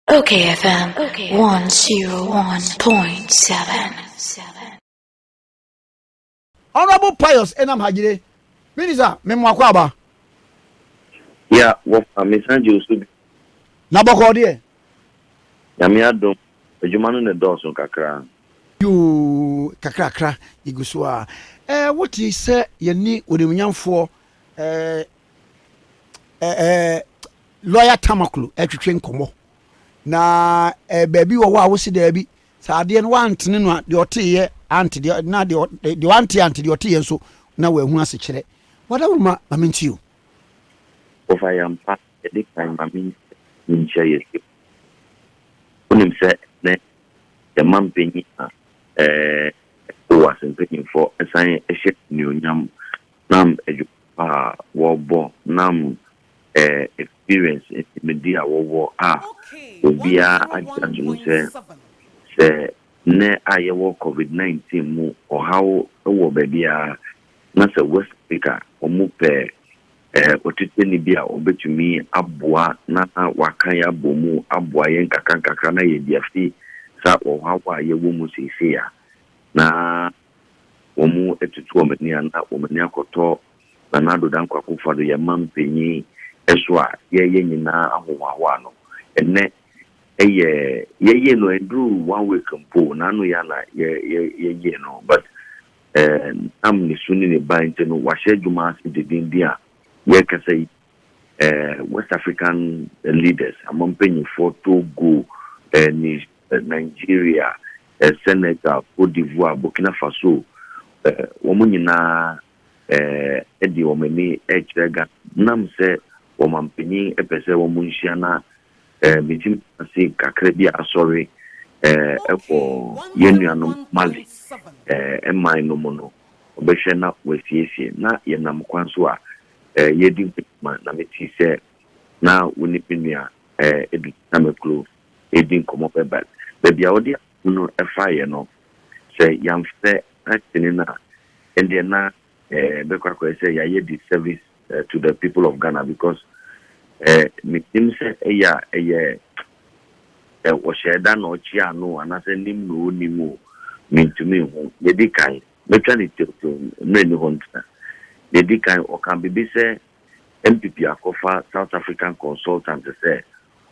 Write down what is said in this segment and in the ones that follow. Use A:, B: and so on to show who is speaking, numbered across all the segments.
A: Okay FM
B: 101.7. Honorable Pius Enam Hajire, Minister, me mo akwaba.
C: Yeah, what a mesan gye osu bi. Na bɔkɔ
B: deɛ.
C: Nyame adom, adwuma no ne dɔɔso kakra. Yoo,
B: kakrakra, yɛgu so a. Eh, wote sɛ yɛne onimunyamfoɔ eh, ɛɛ lɔya tamaklo ɛtwetwe nkɔmɔ na ɛɛ baabi wɔ hɔ a wosi daabi sɛ adeɛ no wantene no a deɛ ɔteeɛ ante deɛ na deɛ deɛ wante ante deɛ ɔteeɛ nso na wahu ase kyerɛ wada wo ma ma menti o.
C: Wɔfa yɛ mpa ɛde kan ma menti nkyɛ yɛ sɛ wonim sɛ ne yɛ ma mpanyin a ɛɛ ɛwɔ asɛmpanyinfoɔ ɛsan ɛhyɛ nnuonyam. Nam adwuma pa a wɔbɔ nam experience ne nimdeɛ a wɔwɔ a obiara agye atom sɛ, sɛ nnɛ a yɛwɔ Covid nineteen mu ɔhaw wɔ baabiara na sɛ West Africa a wɔpɛ ɔtetɛni bi a ɔbɛtumi aboa na waka yɛn abɔ mu aboa yɛn nkakrankakra na yɛadi afi saa ɔhaw a yɛwɔ mu seesei a na wɔatutu wɔn ani anaa wɔn ani akɔtɔ Nana Addo Dankwa Akufo-Addo, yɛn mampanyin, so a yɛyɛ nyinaa ahohoahoa no. Ɛnnɛ yɛ yɛyɛ no ɛnduru one week mpo, naano yɛ na yɛyɛ no but ɛnam ne su ne ne ban nti no wahyɛ adwuma ase dendenden a yɛrekasa yi. eh, West African eh, leaders, ama mpanyinfoɔ Togo, eh, eh, Nigeria, eh, Senegal, Cote d'Ivoire, Burkina Faso, eh, wɔn nyinaa eh, de wɔn ani rekyerɛ Ghana. Nam sɛ wɔn mpanyin pɛ sɛ wɔn nhyia na eh, metumi ase kakra bi asɔre eh, ɛkɔ yɛn nuanom Mali eh, mman no mu no, wɔbɛhwɛ na wɔasiesie na yɛnam kwan so a eh, yɛredi nkɔmmɔ na metee sɛ na wo ne me nua eh, Edu Tamaklo redi nkɔmmɔ bɛ but baabi a wode asɛm no faeɛ no sɛ yɛamfrɛ akyene no a ɛndeɛ na eh, bɛkɔ akɔyɛ sɛ yɛayɛ disservice eh, to the people of Ghana because eh, menim sɛ ɛyɛ a ɛyɛ eh, wɔhyɛɛ da na ɔkye ano anaasɛ nim na ɔnim o mentumi nhu yɛdi kan Mɛtwa no teoteom, mmerɛ nni hɔ ntena. Deɛ ɛdi kan, ɔkaa biribi sɛ NPP akɔfa South African consultant sɛ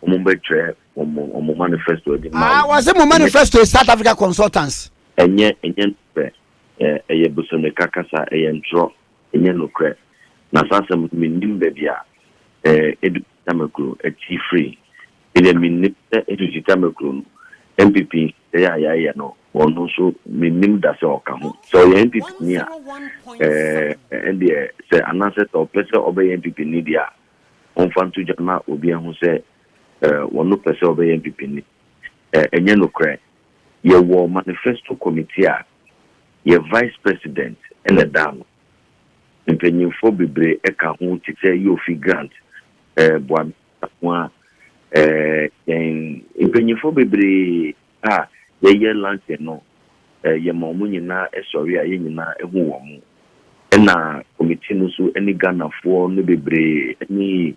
C: wɔn bɛtwerɛ wɔn wɔn manifesto de ma Ah, wɔn. wɔse mo Ɛnyɛ manifesto yɛ
B: South Africa consultants. ɛnyɛ ɛnyɛ
C: nokorɛ. Ɛ ɛyɛ bosemeka kasa, ɛyɛ ntorɔ, ɛnyɛ nokorɛ. Na saa asɛm no mennim baabi a ɛ ɛdu Tamakuro, akyiri firi. Medeɛ mennim sɛ ɛfifiri Tamakuro no, NPP Sɛɛ a yɛayɛ no, ɔno nso mennim da sɛ ɔka ho. Sɛ ɔyɛ NPP ni a, ɛɛɛ, ɛndeɛ sɛ anaasɛ sɛ ɔpɛ sɛ ɔbɛyɛ NPP ni deɛ a, ɔmfa nto dwa ma obi ahu sɛ ɛɛɛ, ɔno pɛ sɛ ɔbɛyɛ NPP ni. Ɛɛɛ, ɛnyɛ nokorɛ. Yɛwɔ manifesto committee a yɛ Vice President na ɛda ano. Mpanyinfoɔ bebree ka ho te sɛ Yofi Grant, ɛɛɛ, Boame. Ho a, yɛn mpanyimfo bebree a yɛyɛ Lansing no, yɛma wɔn nyinaa sɔre a yɛn nyinaa hu wɔn. Ɛna kɔmiti no nso ne Ghanafoɔ no bebree ne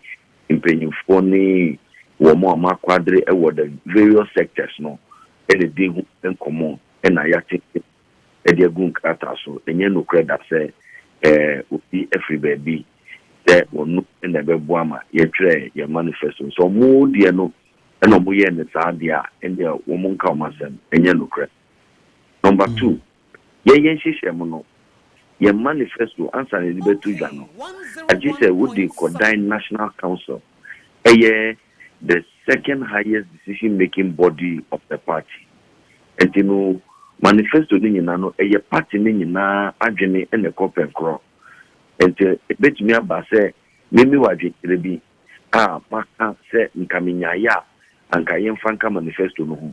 C: mpanyimfoɔ ne wɔn a wɔakwadre wɔ the various sectors no na ɛdi ho nkɔmmɔ na yɛatete de agu nkrataa so. Ɛnyɛ nokorɛ da sɛ obi firi baabi sɛ wɔnom na ɛbɛboa ma yɛtwerɛ yɛn manifesto. Sɛ wɔn deɛ no na wɔyɛɛ no saa deɛ a, ɛnneɛ wɔn nka wɔn asɛm. Ɛnyɛ nokorɛ. Number two, yɛyɛ nhyehyɛm no, yɛn manifesto ansa na yɛde bɛto dwa no, agye sɛ wode kɔ dan National Council, ɛyɛ the second highest decision making body of the party. Ɛnti no manifesto no nyina no ɛyɛ party no nyinaa adwene na ɛkɔ pɛnkorɔ. Ɛnti ɛbɛtumi aba sɛ memi wɔ adwenkyerɛ bi a maka sɛ nka menyaeɛ a anka yɛmfa nka manifesto no ho.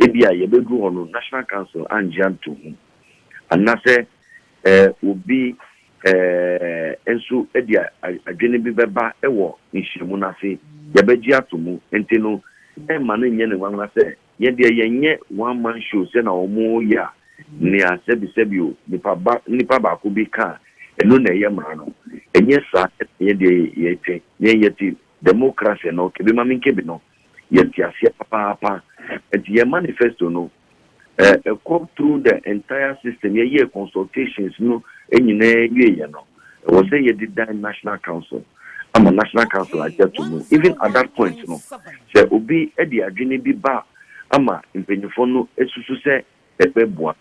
C: Ebia yɛbɛduru hɔ no National Council angye anto ho. Anasɛ Obi nso de adwene bi bɛba wɔ nhyiam no ase, yɛbɛgye ato mu. Enti no, mma no nyɛ no nwanwa sɛ, Yɛn deɛ yɛnyɛ one man show sɛnea wɔyɛ a, nea sɛbisɛbi o, nipa ba, nipa baako bi ka a, ɛno na ɛyɛ mmara no. Ɛnyɛ saa na yɛn deɛ yɛte. Yɛn yɛte demokrase no, kebemamenkebe no, yɛte aseɛ papaapa. Enti yɛn manifesto no, Eh, eh, come through the entire system. Yeah, yeah, consultations no nyinaa wie yɛ no. Ɛwɔ sɛ yɛde dan National Council ama National Council agya to mu. Even at that point no, sɛ obi de adwene bi ba ama mpanyinfoɔ no susu sɛ ɛbɛboa,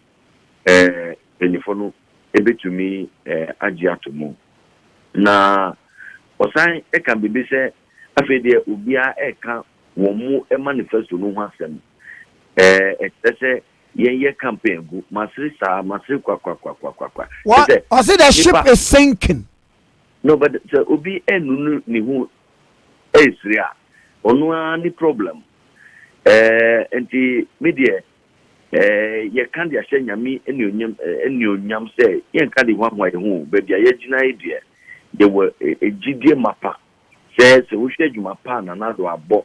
C: eh, mpanyinfoɔ no ebetumi eh, agye ato mu. Na ɔsan ɛka biribi sɛ afei deɛ obiara ɛka wɔn mu manifesto no ho asɛm. Ɛɛ, ɛkyerɛ sɛ yɛnyɛ campaign ngu. Masere saa, masere kwakwakwakwakwa. Wɔ,
B: ɔse the ship is sinking. No, but
C: sɛ obi ɛnunu ne ho ɛresere a, ɔno ara ne problem. Ɛɛ, nti me deɛ, ɛɛ, yɛka de ahyɛ Nyame anuonyam, anuonyam sɛ yɛnka de hoahoa yɛn ho o. Baabi a yɛagyina yi deɛ, yɛwɔ gyidie mapa Sɛ sɛ wohwɛ adwuma pa a Nana Addo abɔ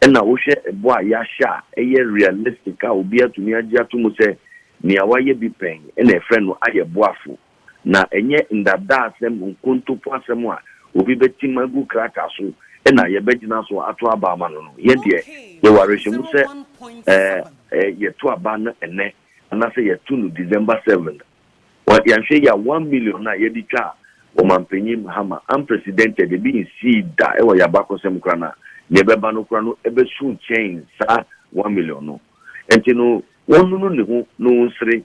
C: na wohwɛ ɛbɔ a yɛahyɛ a ɛyɛ realistic a obi atumi agye ato mu sɛ nea wayɛ bi pɛn na ɛfrɛ no ayɛ boafo na ɛnyɛ ndadaasɛm nkontompo asɛm a obi bɛtim agu krataa so na yɛbɛgyina so ato aba ama no no, yɛn deɛ yɛwɔ awerɛhyɛmu sɛ ɛɛ yɛto aba no ɛnnɛ anaasɛ yɛto no December seven. Wɔn yɛnhwɛ yie a one million no a yɛde twaa Ɔmanpanyin Mahama unprecedented ebi nsii da wɔ yɛn abakɔsɛm koraa no a nea ɛbɛba no koraa no ɛbɛsu kyɛn saa one million no nti no wɔnnunu ne ho na ɔnsere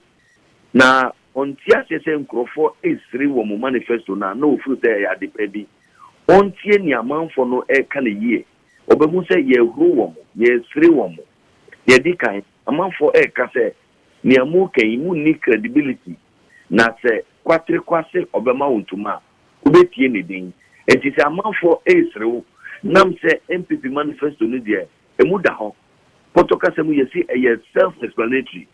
C: na ɔnte aseɛ sɛ nkurɔfoɔ resere wɔ mo manifesto no a na ɔfiri sɛ ɛyɛ ade pa bi ɔntie nea amanfoɔ no reka no yie ɔbɛhu sɛ yɛrehuro wɔn yɛresere wɔn nea ɛdi kan amanfoɔ reka sɛ Nea moreka yi, munni credibility, na sɛ Kwatre kɔ ase ɔbɛma wo ntoma a, wobɛtie ne din. Enti sɛ amanfoɔ resere wo nam sɛ NPP manifesto no deɛ ɛmu da hɔ. Pɔtɔ kasa mu yɛse ɛyɛ self explanatory,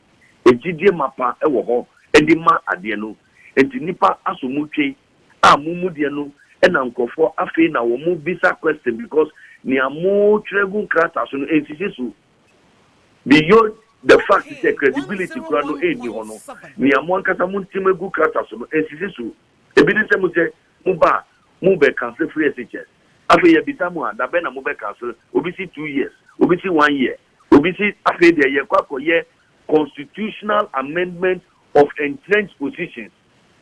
C: gyidie mapa wɔ hɔ de ma adeɛ no, enti nnipa aso mu twe a mo mu deɛ no na nkurɔfoɔ afei na wɔbisa question because nea motwerɛ gu nkrataa so no ɛnsisi so. Beyond the fact sɛ credibility koraa no nni hɔ no, nea mo ankasa monteam agu krataa so no nsisi so. Ebi ne sɛ mosɛ moba a, mo bɛ cancel firi SHS. Afei yɛbisa mo a, da bɛn na mo bɛ cancel? Obi se two years, obi se one year, obi se afei deɛ yɛkɔ akɔyɛ constitutional amendment of entrenched positions.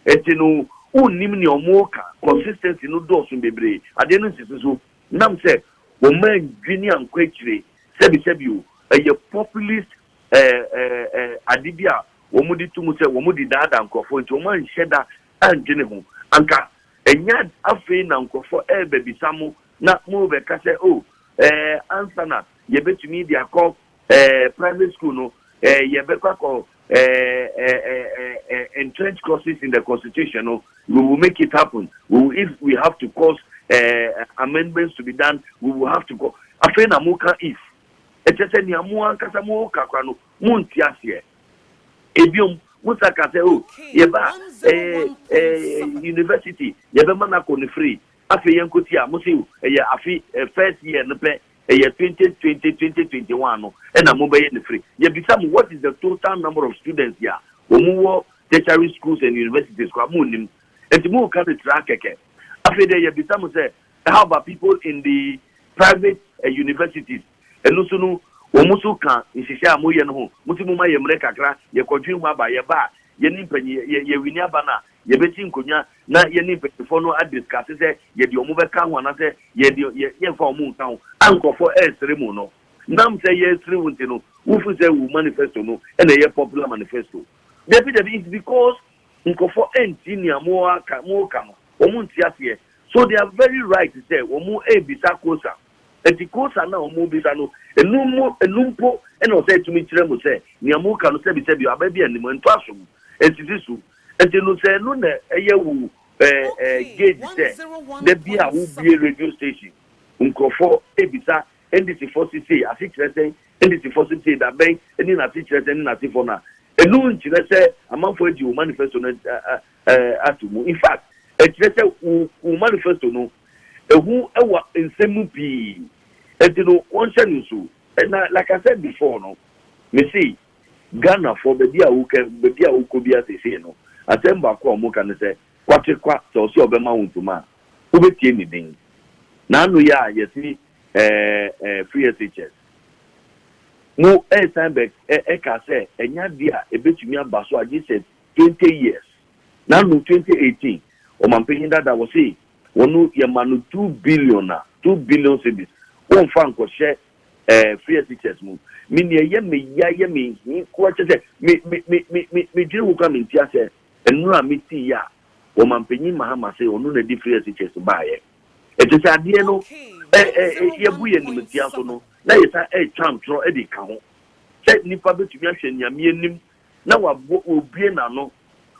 C: Nti no wonnim nea wɔreka, consistency no dɔɔso bebree, adeɛ no nsisi so. Nam sɛ wɔmma nnwi ne ankɔ akyire sɛbisɛbi o, ɛyɛ populist ade bi a wɔde to mu sɛ wɔde daadaa nkurɔfoɔ nti wɔn anhyɛ da andwene ho. Anka ɛnyɛ afei na nkurɔfoɔ rebɛbisa mo na morebɛka sɛ oh ɛɛ ansa na yɛbɛtumi de akɔ eh, private school no eh, yɛbɛkɔ akɔ eh, eh, eh, eh, eh, entrenched courses in the constitution no we will make it happen we will, if we have to cause eh, amendments to be done we will have to go afei na mo ka if ɛkyɛ sɛ nea mo ankasa mo ka kora no mo nti aseɛ ebiom mo sa ka sɛ o oh, yɛba eh, eh, university yɛbɛma no akɔ no free afei yɛnkɔti a mo se ɛyɛ afe eh, first year no pɛ Ɛyɛ twenty twenty twenty twenty one no na mo bɛyɛ no firi. Yɛ bisa mo what is the total number of students yɛ a ɔmo wɔ tertiary schools and universities koraa mo nnim nti mo reka no tiraa kɛkɛ. Afei deɛ yɛ bisa mo sɛ how about people in the private universities ɛno nso no wɔn nso ka nhyehyɛ a mo yɛ no ho mo se mo ma yɛ mmerɛ kakra yɛ kɔdwen ho aba yɛ ba a yɛ ne mpanyinfoɔ yɛ yɛ wini aba no a Yɛbɛsi nkonnwa na yɛne mpaninfoɔ no adiskase sɛ yɛde wɔn bɛka ho anaasɛ yɛde yɛn yɛmfa wɔn nka ho. A nkurɔfoɔ resere mo no, nam sɛ yɛresere wo nti no, wofiri sɛ wo manifesto no na ɛyɛ popular manifesto? Dabi dabi, it's because nkurɔfoɔ ntie nea moaka moreka no, wɔn nte aseɛ. So they are very right sɛ wɔn rebisa kosa. Ɛnti kosa no a wɔn rebisa no, ɛno mo ɛno mpo na ɛwɔ sɛ ɛtumi kyerɛ mo sɛ nea moreka no sɛbi sɛbi aba bi anim, ɛntɔ asom, ɛnsisi so. Nti no sɛ ɛno na ɛyɛ wo gauge sɛ da bi a wo bue radio station nkurɔfɔ ɛbisa NDC fɔ se sei ase kyerɛ sɛn, NDC fɔ se sei da bɛn ɛni na ase kyerɛ sɛn ne na ase fɔ no a ɛno nkyerɛ sɛ amanfɔ agye wo manifesto no ato mu in fact ɛkyerɛ sɛ wo manifesto no ɛhu ɛwɔ nsɛm mu pii nti no wɔnhyɛ no nso na like I said before no me se Ghanafoɔ baabi a wokɛ baabi a wokɔ biara seesei no, asɛm baako a wɔka ne sɛ, Kwakye kwa, sɛ ɔse ɔbɛma wo ntoma a, wobɛtie ne din. Na ano yi a yɛse ɛɛ ɛɛ Free SHS mo ɛɛsan bɛ ɛ ɛka sɛ ɛnyɛ adeɛ a ɛbɛtumi aba so agye sɛ twenty years. Na ano twenty eighteen Ɔmanpanyin Dada wɔse wɔn yɛma no two billion a, two billion cedis, wɔnfa nkɔhyɛ eh, fear teachers mu. Me nea ɛyɛ me ya yɛ me hi koa kyɛ sɛ me me me me me medwene ho koa me nti asɛ nnuro a me tii yɛ a wɔmampanyin Mahama se ɔno na di fear teachers baayɛ. Ɛte sɛ adeɛ no Okay, ɛ that ɛ is ɛ our yɛbu one yɛn point animtia so no seven. na yɛsan ɛretwa ntorɔ ɛde ka ho sɛ nipa betumi ahwɛ Nyame anim na wabɔ obue n'ano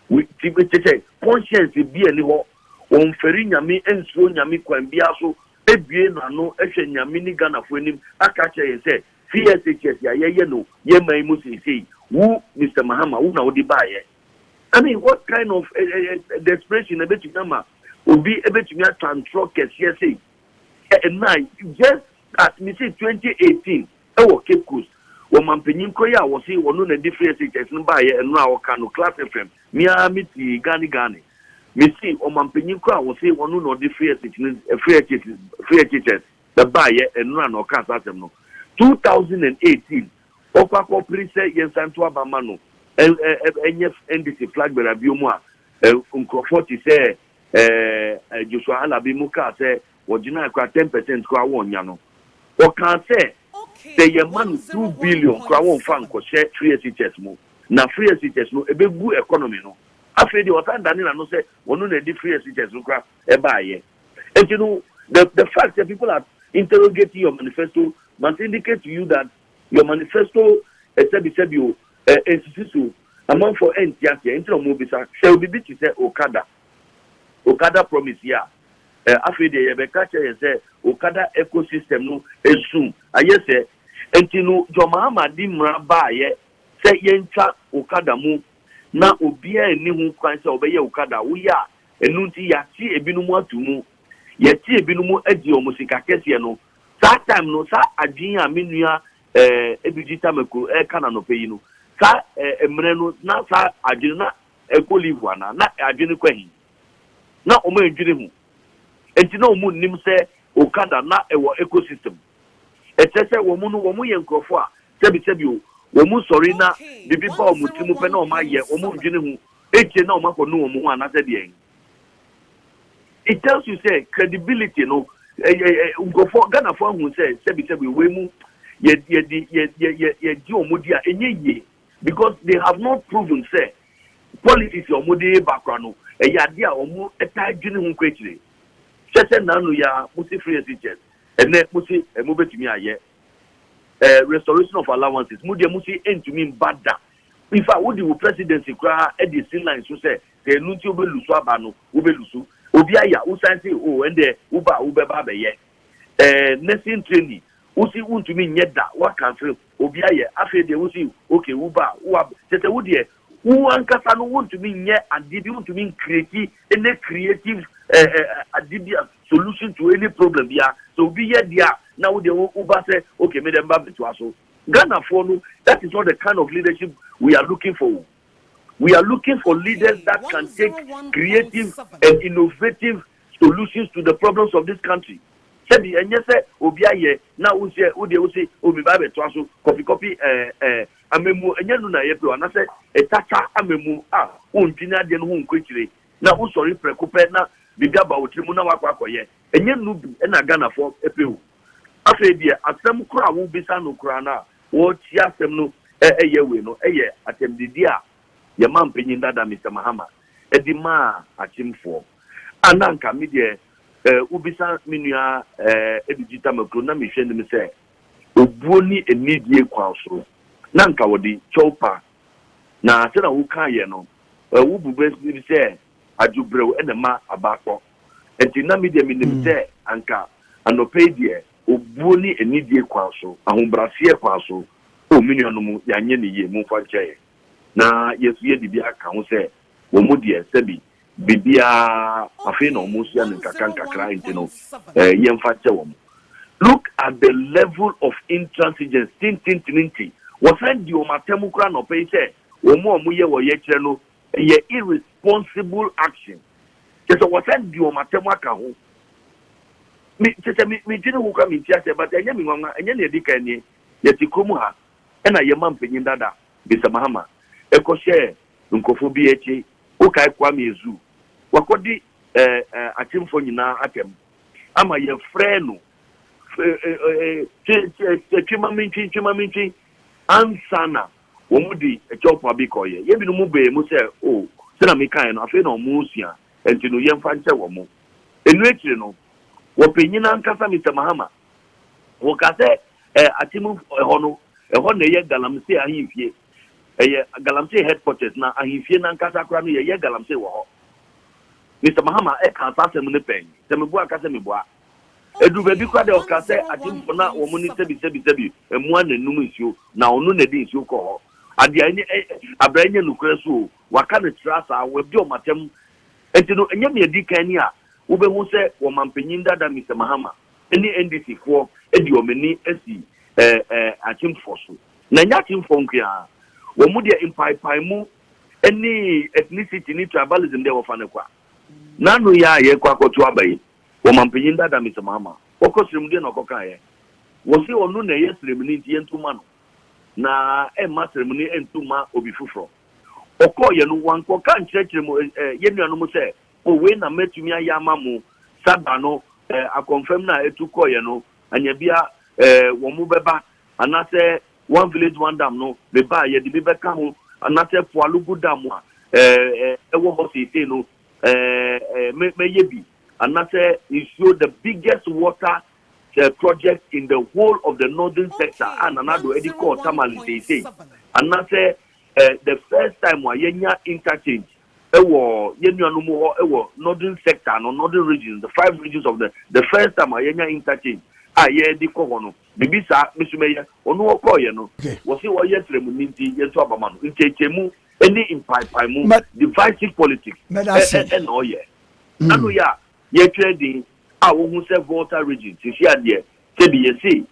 C: We- ti kyɛ sɛ conscience bi a ɛni hɔ wɔnfɛre Nyame ɛnsuro Nyame kwan biara so abue no ano ahwɛ Nyame ne Ghanafoɔ anim aka akyerɛ yɛn sɛ CSHS a yɛyɛ no yɛn man mu seisei, wo Mister Mahama wo na wode baeɛ. I mean what kind of desperation na ɛbɛtumi ama obi bɛtumi atwa ntorɔ kɛseɛ sei? Ɛnna just at me se twenty eighteen Wɔ Cape Coast, wɔ mampanyin koro yi a wɔse ɔno na ɛde firi SHS no baeɛ nnora a ɔka no, Class FM, me ara me tiee Gani Gani. Mese ɔmampanyin koro a wɔse ɔno na ɔde firi SH no, firi SH, firi SHS no baeɛ nnora na ɔkaa saa asɛm no. Two thousand and eighteen, ɔkɔ akɔpere sɛ yɛnsan nto aba mma no ɛn, ɛ, ɛ, ɛnyɛ NDC flag bearer biom a, ɛ, nkurɔfoɔ te sɛ, ɛ, ɛ, Joshua Alabi mo kaa sɛ Wɔgyinae koraa ten percent koraa wɔnnya no. Wɔkaa sɛ sɛ yɛma no two billion koraa wɔmfa nkɔhyɛ free SHS mu na free SHS no ɛbɛgu economy no. Afei deɛ ɔsan dane n'ano sɛ ɔno na ɛde free SHS no koraa baeɛ. Nti no the the fact sɛ people are interrogating your manifesto must indicate to you that your manifesto sɛbi sɛbi o ɛnsisi so o, amanfoɔ ɛnte aseɛ nti na wɔrebisa. Sɛ obibi te sɛ okada. Okada promise yi a, eh, afei deɛ yɛbɛka akyerɛ yɛn sɛ Okada ecosystem no ɛsum, ayɛ sɛ nti no John Mahama de mmara baeɛ sɛ yɛntwa Okada mu na obiara nni ho kwan sɛ ɔbɛyɛ Okada, woyɛ a ɛno nti yɛate ebinom ato mu, yɛate ebinom agye wɔn sika kɛseɛ no, saa time no saa adwene a me nua eh, Ebigyi Tamaku ɛreka no anɔpa yi no, saa eh, mmerɛ no na saa adwene na Ɛkɔ leave anaa? Na adwene kɔ he? Na ɔmo ɛndwene ho? Ɛnti na ɔmo nnim sɛ Okada na ɛwɔ eco system? Ɛkyerɛ sɛ wɔn no wɔn yɛ nkorɔfoɔ a sɛbi sɛbi o, wɔn sɔre na bibi ba wɔn tiri mu pɛ na wɔn ayɛ, wɔn ndwene ho akyire na wɔn akɔ nu wɔn ho anaasɛ deɛn? It tells you sɛ credibility no nkorɔfoɔ Ghanafoɔ ahu sɛ sɛbi sɛbi o wei mu yɛ yɛdi yɛ yɛ yɛgye wɔn di a ɛnyɛ yie. Because they have not proven sɛ policies a wɔde reba koraa no, ɛyɛ adeɛ a wɔtaa dwene ho kɔ akyire. Kyerɛ sɛ nnanu yi ara, mose free SHS, ɛnnɛ mose mobɛtumi ayɛ eh, restoration of allowances, mo deɛ mose ɛntumi mba da. In fact, wode wo presidency koraa de asi line so sɛ sɛ ɛno nti wobɛlusu aba no, wobɛlusu. Obi ayɛ a, wosan se o, oh, ɛndeɛ woba a wobɛba abɛyɛ eh, nursing training, wose wontumi nyɛ da, woakanfere ho. Obi ayɛ, afei deɛ wo nso yi, ok, wo ba a, wo ab, kyerɛ sɛ wo deɛ, wo ankasa no wontumi nyɛ adeɛ bi, wontumi ncreate any creative eh eh adeɛ bi a, solution to any problem biara. Sɛ obi yɛ deɛ a, na wo deɛ wo wo ba sɛ, ok, me deɛ me ba bɛtoa so. Ghanafoɔ no, that is not the kind of leadership we are looking for o. We are looking for leaders that can take creative and innovative Solutions to the problems of this country sɛbi ɛnyɛ sɛ obi ayɛ na wosɛ wodeɛ wose o me ba bɛtoa so kɔpi kɔpi ɛɛ ɛɛ amamuo ɛnyɛ nu na yɛpɛ o anasɛ ɛtata amamuo a wondwene adeɛ no ho nkɔ akyire na wosɔre prɛko pɛ na biribi aba wo tiri mu na wakɔ akɔyɛ ɛnyɛ nu bi ɛna Ghanafoɔ ɛpɛ o afei deɛ asɛm koro a wobisa no koraa no a wɔrekyia asɛm no ɛyɛ wei no ɛyɛ atɛmdidi a Yɛmaa mpanyin dada Mister Mahama de maa akyemfoɔ. A na anka me deɛ eh, wobisa me nua eh, Edudzi Tamaklo na mehwɛ anim sɛ obuo ne anidie kwan so na anka wɔde kyɛw pa. Na sɛnea wokaeɛ no, eh, wo bu bɛ bi sɛ adwo brɛw na ɛma aba akɔ. Nti na me deɛ menim sɛ anka anɔpa yi deɛ obuo ne anidie kwan so, ahobraseɛ kwan so, oh, me nuanom, yɛanyɛ no yie, momfa nkyɛ yɛn. Na Yesu yɛ biribi aka ho sɛ, Wɔn mu deɛ, sɛbi, biribiara, afei na wɔresua no nkakrankakra, enti no, yɛmfa nkyɛ wɔn. Look at the level of intransigence, tententene nti, wɔsan di wɔn atam koraa anɔpa yi sɛ wɔn a wɔyɛ ɔyɛkyerɛ no yɛ irresponsible action. Kyerɛ sɛ, wɔsan di wɔn atam aka ho. Me, kyerɛ sɛ, me, me dwene ho koraa, mente aseɛ, but ɛnyɛ me nwanwa, ɛnyɛ nea ɛdi kan nie, yɛte kurom ha, ɛna yɛn mampanyin dada, Mister Mahama, kɔ hyɛɛ nkorɔfoɔ bi akyi. Wo kae Kwame Azu? Wakɔ di eh eh akyemfoɔ nyinaa atɛm ama yɛn frɛɛ no eh eh eh twe twe twe ma mentwe twe ma mentwe ansa na wɔn de Kyɛw Poabe kɔeɛ. Yɛn binom bɛɛ mu sɛ oh sɛnea me kaeɛ no afei na wɔn resua nti no yɛmfa nkyɛ wɔn. Ɛno akyire no wɔpanyin ankasa Mister Mahama Wɔka sɛ ɛɛ Akyem hɔ no, ɛhɔ na ɛyɛ Galamsey ahemfie. Ɛyɛ Galamsey headquarters na ahemfie no ankasa koraa no yɛyɛ Galamsey wɔ hɔ. Mister Mahama ɛkaa saa asɛm no pɛn. Sɛ mebua a ka sɛ mebua. Ɛduru baabi koraa deɛ ɔkaa sɛ Akyemfoɔ na wɔn ne sɛbi sɛbi sɛbi mmoa na ɛnum nsuo na ɔno na ɛde nsuo kɔ hɔ. Adeɛ a ɛnyɛ abira ɛnyɛ nokorɛ so o, wɔaka no tra saa, wɔadi wɔn atɛm. Ɛnti no ɛnyɛ nea ɛdi kan ni a wobɛhu sɛ wɔn manpanyin dada Mister Mahama. ne NDC foɔ de wɔn ani asi akyemfoɔ so. Na ɛnyɛ akyemfoɔ nko ara, wɔn deɛ mpaepaemu ne ethnicity ne tribalism deɛ wɔfa no kwa. Na ano yi ara a yɛrekɔ akɔto aba yi, wɔmanpanyin dada Mister Mahama, ɔkɔ serem deɛ na ɔkɔ kaeɛ? Wɔse ɔno na ɛyɛ seremni nti yɛnto mma no, na ɛmma seremni nto mma obi foforɔ. Ɔkɔeɛ no wankɔka nkyerɛkyerɛ mu yɛn nuanom sɛ O, wei na mɛtumi ayɛ ama mo, sa da no, eh, akɔmfɛm no a ɛtu kɔeɛ no, anyɛ bia, eh, wɔn mo bɛba, anasɛ One Village One Dam no, me ba, yɛde bi bɛka ho, anasɛ Poalogu Dam mo a, eh, eh, ɛwɔ hɔ seesei no, eh, eh, mɛ, mɛyɛ bi, anasɛ nsuo, the biggest water, eh, project in the whole of the Northern Sector a Nana Addo ɛde kɔɔ Tamale seesei, anasɛ, eh, the first time a yɛnya interchange, wɔ yɛn nuanom hɔ wɔ Northern sector no, Northern regions, the five regions of the the first time a yɛanya interchange a yɛde kɔ hɔ no, biribi saa, me nso mɛyɛ. Ɔno ɔkɔeɛ no, wɔse ɔyɛ ɔsrɛmuni nti yɛnto aba ma no. Nteateamu ne mpaepaemu, divisive politics, na ɔyɛ. Ano yɛ a, yɛtwerɛ din a wohu sɛ Volta region, seesei a deɛ sɛbi yɛse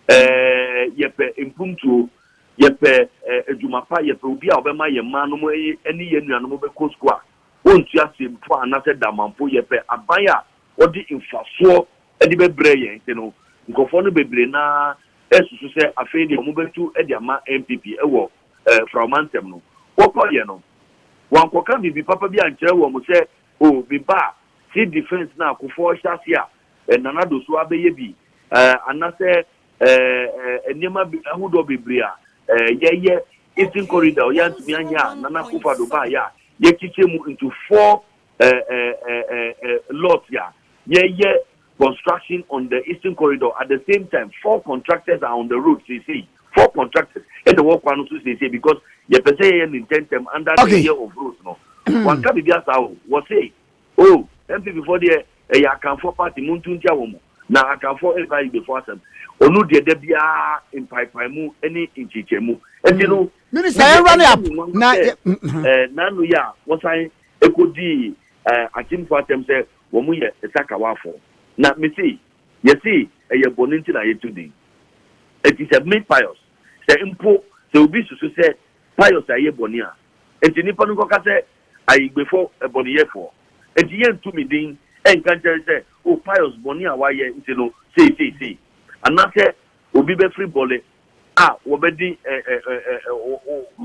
C: Ɛɛ, yɛpɛ mpuntuo, yɛpɛ adwuma pa, yɛpɛ obi a ɔbɛma yɛn mmaa nom ne yɛn nuanom bɛkɔ sukuu a wɔntua se mpo a anaasɛ dama mpo, yɛpɛ aban a wɔde mfasoɔ de bɛbrɛ yɛn nti no, nkurɔfoɔ no bebree no ara resusu sɛ afei deɛ wɔbɛtu de ama NPP wɔ Frawomantam no. Wɔkɔeɛ no, wɔankɔka biribi papa bi ankyerɛ wɔn sɛ, o, me ba a, civil defence no a Kufuor hyɛ aseɛ a eh, Nana Do so abɛyɛ bi, eh, anasɛ eh, eh, nneɛma bi ahodoɔ bebree a eh, yɛyɛ Eastern Corridor ɔyɛ antumi anyɛ a Nana Akufo Addo baayɛ a yɛkyekyɛ mu into four eh, eh, eh, eh, eh, lot a yɛyɛ construction on the Eastern Corridor at the same time four contractors are on the road seesei four contractors ɛna ɛwɔ kwan no so seesei because yɛpɛ sɛ yɛyɛ ne ntɛntɛm under the Okay. year of roads no wanka biribi asa o wɔse Oh NPP foɔ deɛ ɛyɛ Akanfoɔ party montu ntia wɔn mo na Akanfoɔ ɛnka Igbefoɔ asɛm ɔno deɛ da biara mpaepaemu ɛne nkyekyɛmu ɛnti no Minister yɛn wura ne ap
B: na yɛ ɛɛ Nano
C: yi a wɔsan ɛkɔ dii ɛɛ Akyemfoɔ asɛm sɛ wɔn yɛ Sakawaafoɔ na me se yɛse ɛyɛ bɔne nti na yɛto din ɛnti sɛ me Pius sɛ mpo sɛ obi susu sɛ Pius ayɛ bɔne a ɛnti nipa no nkɔka sɛ Ayigbefo bɔneyɛfoɔ. Enti yɛntu me din nka nkyɛre sɛ, O Pius, bɔne a woayɛ nti no sei sei sei. Anaasɛ obi bɛfiri bɔne a wɔbɛdi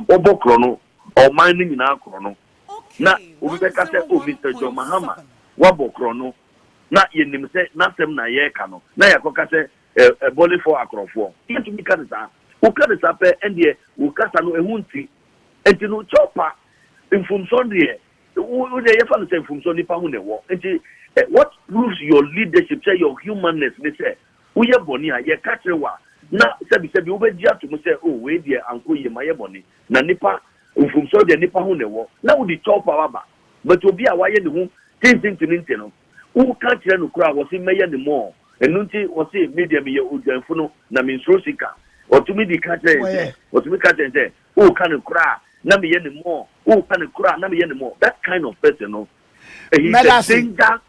C: wɔbɔ korɔno, ɔman no nyinaa korɔno, na obi bɛka sɛ, O Mister John Mahama, woabɔ korɔno, na yɛnim sɛ n'asɛm na yɛreka no, na yɛakɔka sɛ bɔnefɔɔ akorɔfoɔ. Yɛntumi nka no saa. Woka no saa pɛ, ɛndeɛ wo kasa no ɛho nte. Nti no Joppa mfomso deɛ wo deɛ yɛfa no sɛ mfomso nipa ho na ɛwɔ nti what proves your leadership sɛ your humanness ne sɛ woyɛ bɔne a yɛka kyerɛ wo a na sɛbi sɛbi wobɛgye ato mu sɛ oh wei deɛ ankɔ yie mayɛ bɔne na nipa mfomso deɛ nipa ho na ɛwɔ na wode Joppa aba but obi a wayɛ ne ho tintintintintin no Woka kyerɛ no koraa a, ɔse, Mɛyɛ no mmɔɔ. Ɛno nti, ɔse, Me deɛ, meyɛ odwanfo no, na mensuro sika. Ɔtumi de ka kyerɛ yɛn sɛ, ɔtumi ka kyerɛ yɛn sɛ, Woka no koraa a, na meyɛ no mmɔɔ, woka no koraa a, na meyɛ no mmɔɔ. That kind of person no, he is a danger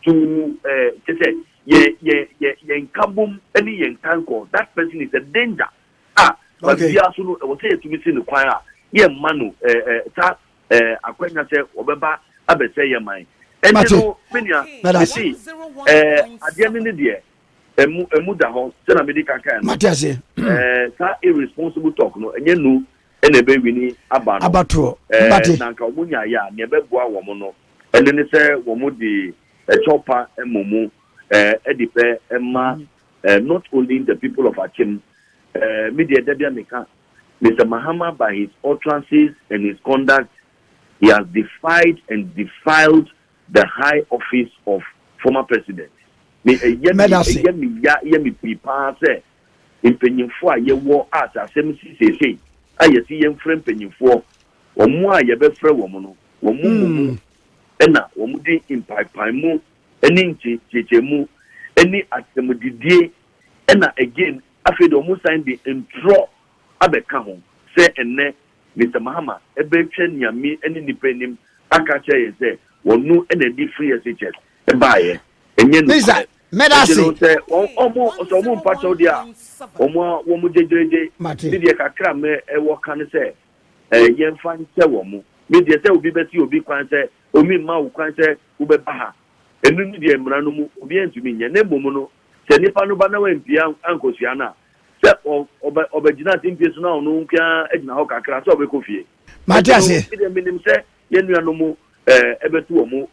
C: to eh, kyerɛ sɛ, yɛn, yɛn, yɛn, yɛn nkabom ne yɛn nkankɔ. That person is a danger a, kwan biara so no, ɛwɔ sɛ yɛtumi si no kwan a, yɛmma no eh, eh, saa eh, akwanya sɛ wɔbɛba abɛsɛ yɛ man ɛnti no me nua mesi eh, adeɛ no ne deɛ ɛmu ɛmu da hɔ sɛna mede ka kan no eh,
B: saa
C: irresponsible talk no ɛnyɛ nu ɛna ɛbɛwini aba no abatoɔ eh, mbate na
B: nka wɔn nyaayɛ a
C: nea ɛbɛboa wɔn no ɛno ne sɛ wɔn de ɛkyɛw pa ɛmɔ mu eh, ɛde pɛ ɛma eh, not only the people of akyem eh, me deɛ dabi a meka Mister Mahama by his utterances and his conduct he has defied and defiled the high office of former president. Me ɛyɛ me ɛyɛ me ya ɛyɛ me pii paa sɛ mpanyinfoɔ a yɛwɔ a sɛ asɛm si seesei a yɛsi yɛn frɛ mpanyinfoɔ wɔn a yɛbɛfrɛ wɔn no wɔn mu mu hmm. ɛna wɔn di mpaepaemu ɛne nkyekyekyemu ɛne asɛmdidie ɛna again Afei de wɔsan de ntorɔ abɛka ho sɛ ɛnnɛ Mister Mahama bɛtwa Nyame ne nnipa anim aka akyerɛ yɛn sɛ ɔno na de free SHS baeɛ. Ɛnyɛ nokorɛ. Ɛgye no sɛ
B: wɔn
C: sɛ wɔn mpa kyɛw deɛ a, wɔn a wɔn gyegyeregye. Me deɛ kakra a me wɔ ka ne sɛ yɛmfa nkyɛ wɔn. Me deɛ sɛ obi bɛse obi kwan sɛ omi mma wo kwan sɛ wobɛba ha, ɛno ne deɛ mmara no mu obiara ntumi nyɛ. Na mmom no Sɛ nipa no ba na wampie ankosua no a, sɛ ɔbɛgyina ase mpie so na ɔno nko ara agyina hɔ kakra sɛ ɔbɛkɔ fie. Mate aseɛ. Ɛnti no,
B: medeɛ menim sɛ
C: yɛn nuanom ɛbɛtu wɔn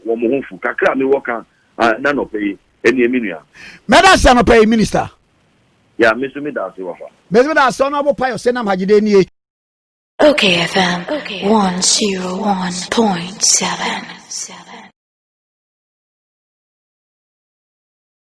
C: wɔn ho fu. Kakra a mewɔ ka n'anɔpa yi ɛneɛ me nua. Mɛda ase anɔpa
B: yi Minister. Yeah, me
C: nso meda ase wafa. Me nso meda ase Honourable
B: Payo Senam Hajide nie. Ok
A: FM 101.7.